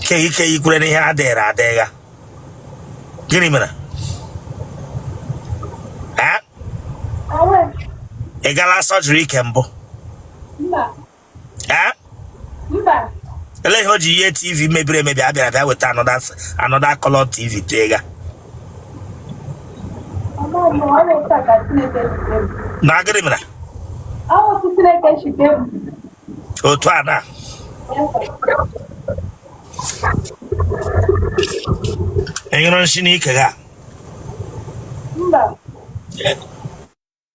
ike ike ikwere n'ihe adịghịrị adịgha gịnị mere ị gala surgery ike mbụ ele ihe o ji yie tv mebiri emebi a bịara bịa weta another color tv tee ga na gịrị mere otu a na-anyụrụ nsị n'ike ga mba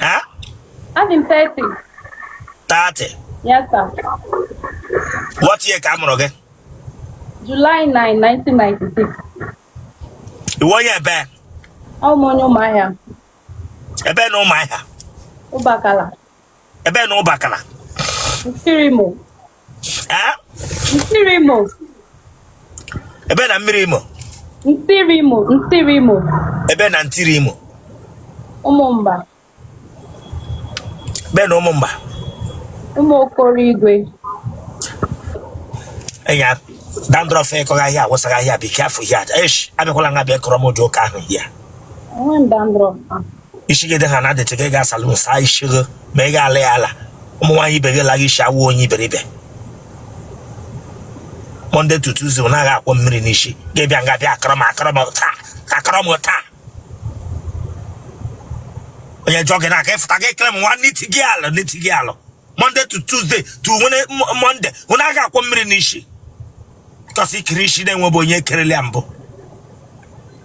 Ha? Adị m 30. 30? Yes, sir. What year ka a mụrụ gị? July 9, 1996. Ị wụ onye ebe? Awụ m onye Ụmụahịa. Ebe na Ụmụahịa? Ụbakala. ebe na ụbakala nsirimo ha nsirimo ebe na mmirimo nsirimo ebe na nsirimo ụmụmba ebe na ụmụmba ụmụ okoro igwe enya dandruff ị kọgha here awụsagha here be careful here esh abịakwala nga bịa kọrọ m ụdị ụka ahụ here ishi gị dị ha na dirty gị ga salon saa isi gị ma ị ga-ala ya ala ụmụ nwaanyị ibe gị laghị isi awụ onye iberibe Monday to Tuesday ọ naghị akwọ mmiri n'isi gị bịa nga bịa akọrọ m akọrọ m taa akọrọ m taa onye jụọ gị na-aka ịfụta gị ekele m nwa n'iti gị alụ n'iti gị alụ Monday to Tuesday to Monday ọ naghị akwọ mmiri n'isi because i kere isi na-enwebụ onye kerele ya mbụ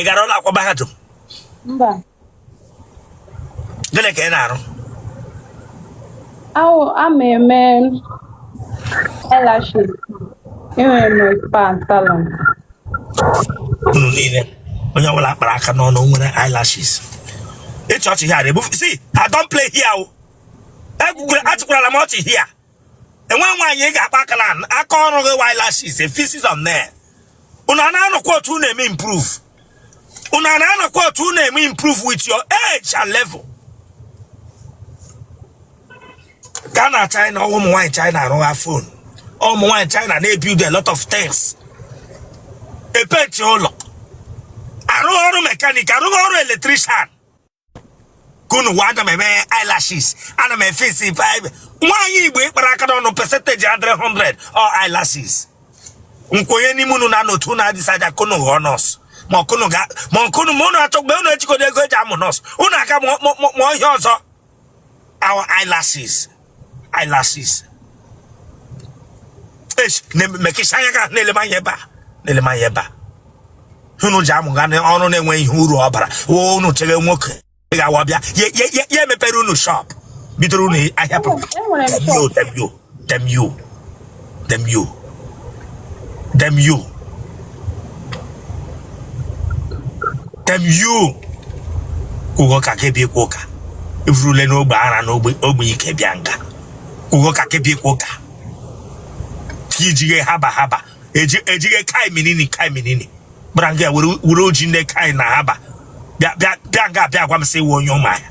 ị gara ụlọ akwụkwọ mahadum gịnị ka ị na-arụ Aw, a m eme eyelashes. Enwere m spa and salon. unu niile onye ọbụla kpara aka n'ọnụ o nwere eyelashes ị chịa ọchị here ebufu see I don't play here o egwukwere achịkwarala m ọchị here enweghị nwaanyị ị ga-akpa akala aka ọrụ gị wụ eyelashes efisis on there unu a na-anọkwa otu unu eme improve unu a na-anọkwa otu unu eme improve with your age and level gaa na China ụmụ nwaanyị China arụgha phone ụmụ nwaanyị China na-ebuild a lot of things epenti ụlọ arụgha ọrụ mechanic arụgha ọrụ electrician ka unu wa ana m eme eyelashes ana m efe isi five nwaanyị igbo ịkpara aka n'ọnụ percentage adịrị 100 or eyelashes nkwenye n'ime unu na n'otu unu adecide ka unu ghọọ nurse ma ọkụnụ ga ma ọkụnụ ma unu achọ mgbe unu ejikọdo ego eji amụ nurse unu aka amụ ihe ọzọ ọwụ eyelashes eyelashes esh mekisha anya ga na-ele m anya ebe a na-ele m anya ebe a unu ji amụga ọrụ na-enweghị ihe uru ọ bara woo unu chere nwoke ị ga-awa bịa ya emepere unu shop bidoro unu ahịa pụrụ damn you damn you damn you damn you damn you damn you ugo ka ị ga-ebi ikwu ụka i vurule n'ogbe ara n'ogbe ike bịa nga ugo ka ị ga-ebi ikwu ụka ka ijighe haba haba ejighe kai minini kai minini bịara nga were oji ndị kai na haba bịa nga bịa gwa m sị ị wụ onye Ụmụahịa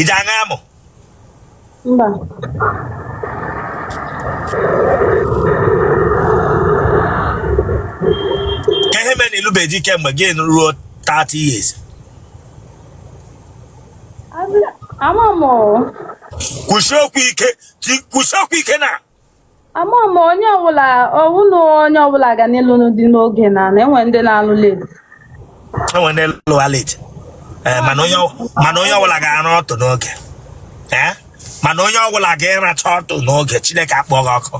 ị ji aṅa amụ mba kee ihe mere na ịlụbeghị di kemgbe gị ruo 30 years ama m o kwụsị okwu ike ti- kwụsị okwu ike na ama m onye ọwụla na onye ọwụla ga na ịlụ di n'oge na na enwe ndị na-alụ late enwe ndị lụwa late eh, mana onye ọwụla ga-ara ọtụ n'oge eh? mana onye ọwụla ga-ịracha ọtụ n'oge chineke akpọ gị ọkụ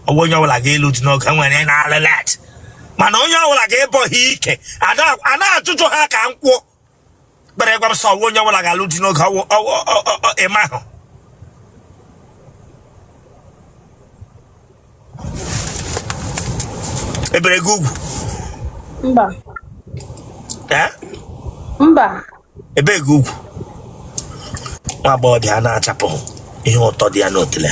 ọwụ onye ọwụla ga-ịlụ di n'oge enwere na-alụ late mana onye ọwụla ga-ịbọghe ike a na-achụchụ ha ka nkwụ kpere ịgwa m sị ọwụ onye ọwụla ga-alụ di n'oge ọwụ ịma ahụ e bere gị ugwu mba mba e bee gị ugwu nwa agbọghọbịa na-achapụ ihe ụtọ dị ya n'otele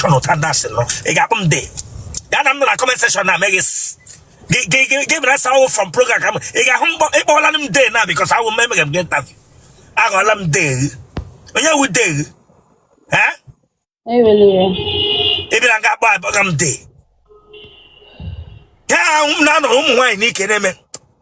Colonel Thunders nọ ị ga-akpọ m dee ya na m nọ na comment section na meghị gị bịara sa awụ from program ka m ị ga-ahụ mkpọ ịkpọwala m dee na because awụ m emega m gị interview aghọọla m dee onye wụ dee ị bịara nga akpọ abụghị m dee ya ahụ m na-anọrọ ụmụ nwaanyị n'ike na-eme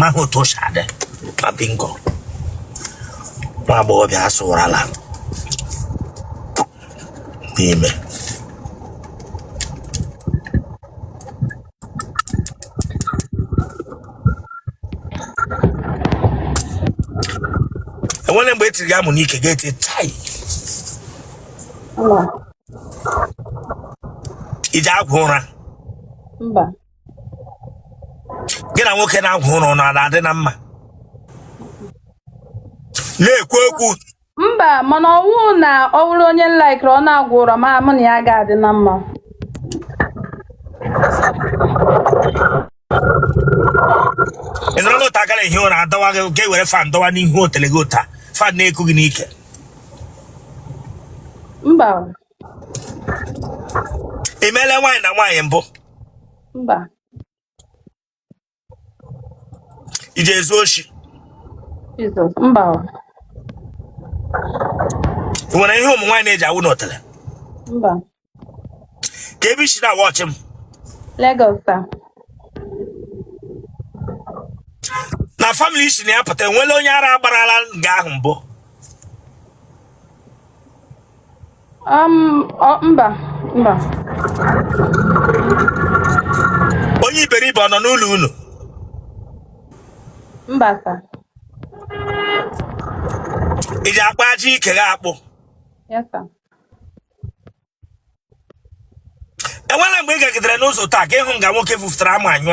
maghị otu o si adị ma bingo nwa agbọghọbịa asụwarala n'ime enwere mgbe etiri ya amụ n'ike ga-eti tai ị ji agwọ ụra mba gị na nwoke na-agwọ ụra ọ na-adị na mma na-ekwu okwu mba mana ọ wụ na ọ bụrụ onye m laikiri ọ na-agwọ ụra ma mụ na ya ga-adị na mma ị nọrọ n'otu aka na-ehi ụra adọwa gị ga ewere fan dọwa n'ihu otele gị ụta fan na-eku gị n'ike mba ị meela nwaanyị na nwaanyị mbụ mba i ji ezu oshi Jizọs mba o, ị nwere ihe ụmụ nwaanyị na-eji awụ n'otele mba ka ebe i si na-awọchị m Lagos ta na family i si na ya pụta enwela onye ara agbarala nga ahụ mbụ Um, mba mba onye iberibe ọ nọ n'ụlọ unu mba sa ị ji akpụ ajị ike gị akpụ yes sir enwela mgbe ị gagidere n'ụzọ taa ka ị hụ nga nwoke fufutara amụ anyụ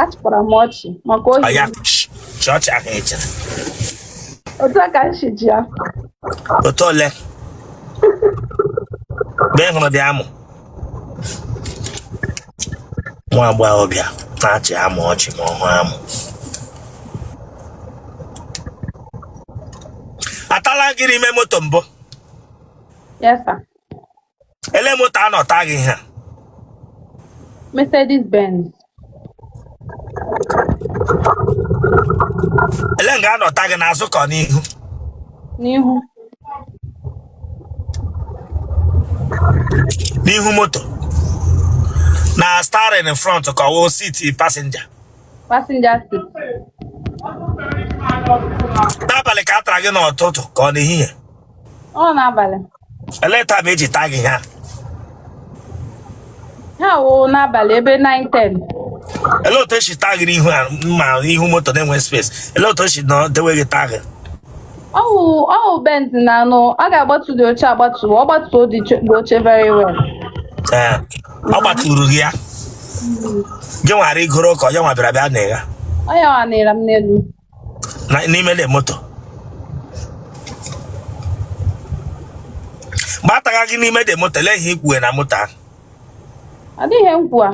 achịkwara m ọchị maka ohi oya chịa ọchị ahụ eche otu a ka m si ji ya otu ole mgbe ị hụrụ dị amụ nwa agbọghọbịa na-achị amụ ọchị ma ọ hụ amụ a tala gị n'ime moto mbụ yes sir ele moto a nọ ta gị ha Mercedes Benz. ele nga a nọ ta gị n'azụ ka ọ n'ihu N'ihu. n'ihu moto na steering in front ka ọ wụ seat passenger Passenger seat. n'abalị ka a tara gị n'ụtụtụ ka ọ n'ehihie Ọ n'abalị. elee time eji taa gị ha ha wụ n'abalị ebe 9:10 elee otu esi taa gị n'ihu a ma ihu moto na-enwe space elee otu esi nọ dewe gị taa gị ọ wụ ọ wụ Benz na anụ ọ ga-agbatu the oche agbatu ọ gbatuo the cho- the oche very well ee ọ gbaturu gị ya gị nwa arigoro ka ọ ya nwa bịara bịa na ya onye ọ nịra m n'elu na- n'ime na moto mgbe a taga gị n'ime the moto lee ihe ikwue na moto ahụ adịghị nkwu a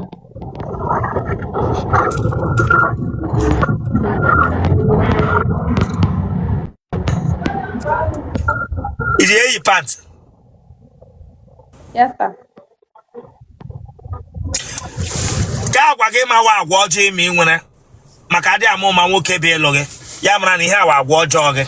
iji eyi pant yes sir kaa agwa gị ma wụ agwa ọjọọ ịma ị nwere maka adị ama ama nwoke bịa ịlụ gị ya mara na ihe a wụ agwa ọjọọ gị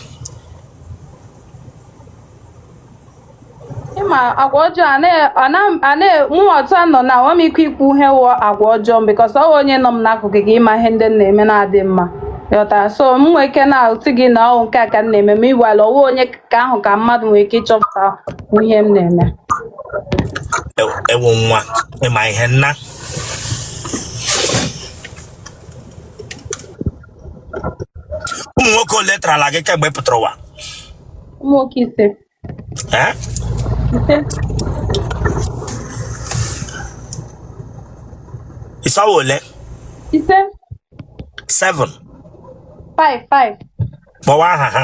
ịma agwa ọjọọ a na- a na- a na- mụ otu a nọ na enwe m ike ikwu ihe wụ agwa ọjọọ m because ọ wụ onye nọ m n'akụkụ ga ịma ihe ndị m na-eme na-adị mma ghọtara so m nwee ike na-asị gị na ọwụ nke a ka m na-eme ma igwala ọwụ onye ka ahụ ka mmadụ nwee ike ịchọpụta ihe m na-eme E- ewo nwa ịma ihe nna ụmụ nwoke ole tarala gị kemgbe ị pụtara ụwa ụmụ nwoke ise Eh? ise ị sị ọ wụ ole ise seven five five kpọwa aha ha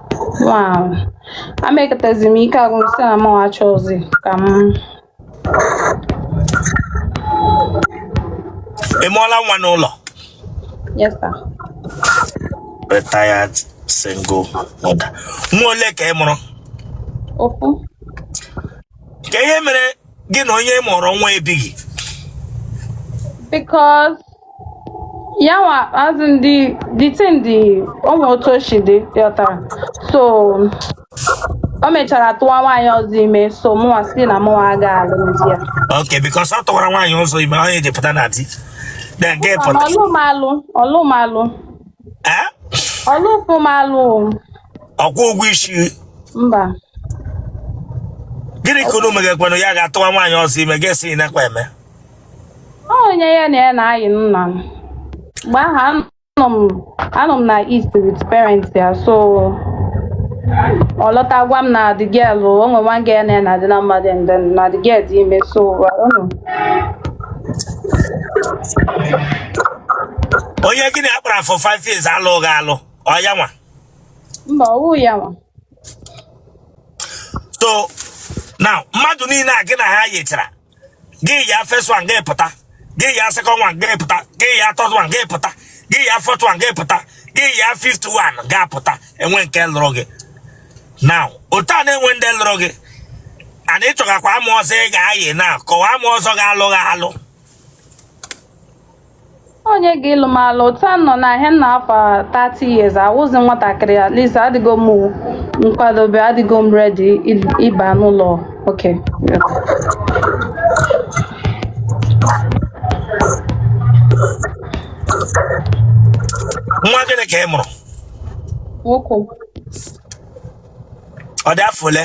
Wow. Amekatazi m ike agwụ sị na mụ achọzi ka m Ị mụọla nwa n'ụlọ? yes sir. Retired single mother. Nwa ole ka ị mụrụ? Ofu. Kee ihe mere gị na onye ị mụrụ nwa ebighị because yawa as in the the thing the ụmụ otu o si dị ghọtara so o mechara tụwa nwaanyị ọzọ ime so mụnwa sị na mụnwa aga alụmdi ya okay because ọ tụwara nwaanyị ọzọ ime onye ji pụta na di na nke pụta ọ lụ m alụ ọ lụ m alụ Eh? ọ lụkwụ m alụ ọ kwụ ụgwọ isi mba gịnị ka unu megakwanụ ya gaa tụwa nwaanyị ọzọ ime gị asị ị nakwa eme onye ya na ya na-ayi nna m mgbe ahụ anọ m anọ m na east with parents ya so ọ lọta gwa m na the girl o nwe nwa girl na na dị na mmadụ and then na the girl dị ime so I don't know. onye gị na ya kpara for five years alụghị alụ ọ ya nwa mba ọwụ ya nwa so now mmadụ niile a gị na ha yechara gị ya first one gị pụta gị ya second one gị pụta gị ya third one gị pụta gị ya fourth one gị pụta gị ya fifth one ga-apụta enwe nke lụrụ gị now otu a na-enwe ndị lụrụ gị ana ị chọgakwa amụ ọzọ ị ga-ayị na ka ọ wụ amụ ọzọ ga-alụ gị alụ onye ga-ịlụ m alụ otu a nọ n'ahịa nna afọ 30 years awụzi nwatakịrị at least adịgo m nkwadobe adịgo m ready ịba n'ụlọ okay nwa gịnị ka ị mụrụ nwoke ọ dị afọ ole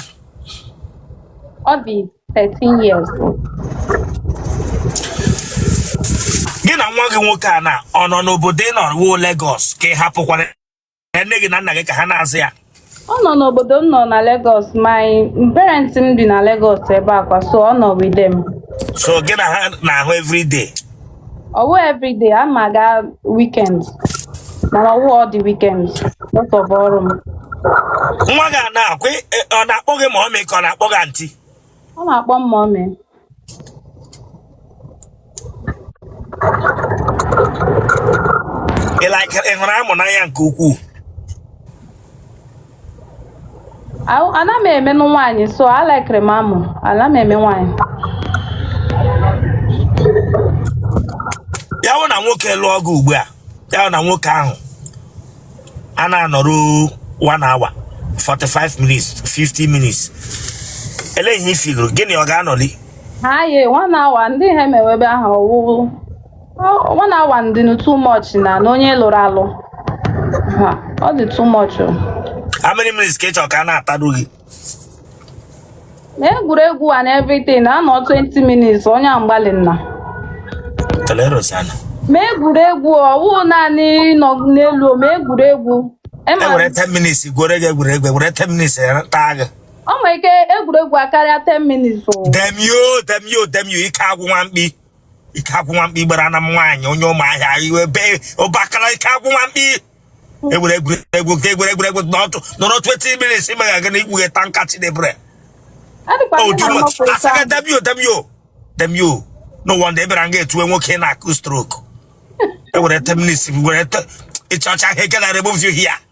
ọ dị 13 years. gị na nwa gị nwoke a na ọ nọ n'obodo ị nọ wụ Lagos ka ị hapụkwara nne gị na nna gị ka ha na-azụ ya Ọ nọ n'obodo m nọ na Lagos. My parents m bi na Lagos ebe a kwa so ọ nọ with them. so gị na ha na-ahụ everyday ọwụ everyday a ma aga weekend mana ọwụ all the weekends because of ọrụ m nwa gị a na-ekwu ị- ị- ọ na-akpọ gị mommy ka ọ na-akpọ gị aunty ọ na-akpọ m mommy ị like- ị hụrụ amụ n'anya nke ukwuu ana m emenụ nwaanyị so alikere m amụ ana m eme nwaanyị ya wụ na nwoke lụọ gị ugbu a ya wụ na nwoke ahụ a na-anọru 1 hour 45 minutes 50 minutes elee ihe ị filụrụ gịnị ọ ga-anọli ha ye 1 hour ndị ha emewebe ahụ ọwụ Oh, one hour ọ dị too much na na onye lụrụ alụ. Ha, ọ dị too much. o. how many minutes ka ị chọrọ ka a na-atadu gị Na egwuregwu and everything na-anọ 20 minutes onye a mgbalị nna. tolerosana Ma egwuregwu ọwụ naanị ịnọ n'elu ma egwuregwu. e Ịma were 10 minutes gwere gị egwuregwu were 10 minutes ya taa gị ọ nwere ike egwuregwu akarịa 10 minutes o. demio demio demio ike agwụ nwa mkpi ike agwụ nwa mkpi gbara na m nwaanyị onye Ụmụahịa iwe be ụbakala ike agwụ nwa mkpi egwere egwuregwu ka egwere egwuregwu n'ọtụ nọrọ 20 minutes ime ga na ikpughe tanka chidebre Adịkwa ndị na mmakwa ike asaga ahụ. dabio dabio dabio no wonder ebere nga etuwe nwoke na-akụ stroke ewere 10 minutes were te- ịchọcha ihe gara remove you here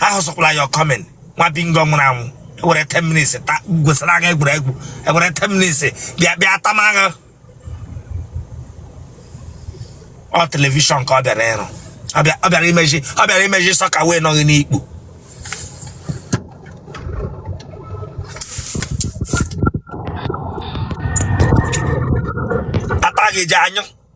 ahụzikwala your comment nwa bingo nwụrụ anwụ ewere 10 minutes ta gwesịrị agha egwuregwu ewere 10 minutes bịa bịa tama agha ọ television ka ọ bịara ịrụ ọ bịa- ọ bịara imeji ọ bịara imeji socket wee nọ gị n'ikpu ata gị ji anyụ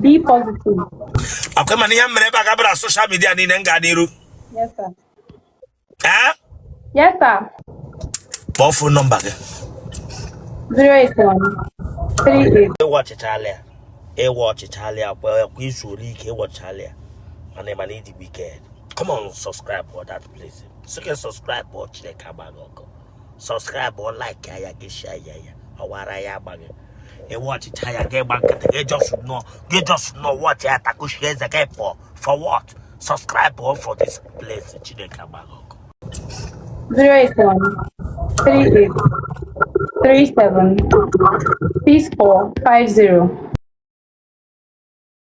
Be positive. akwa ma na ihe m mere ebe a gabara social media niile m gaa n'iru Yes, sir. ee Yes, sir. kpọọ phone number gị 081 ị watchịchala ya ị watchịchala ya kwa kwa i zuole ike ị watchịchala ya mana ị ma na ị dị wicked come on subscribe for that place sị gị subscribe ọ chineke agba gị ọkụ subscribe like ya gị share ya ya ọ wụ ara ya agba gị ị watchịcha ya gị gba nkịtị gị just nọ gị just nọ watch ya takuchie eze gị pụọ for what subscribe o for this place chineke agba gị ọkụ zero eight one three eight three seven six four five zero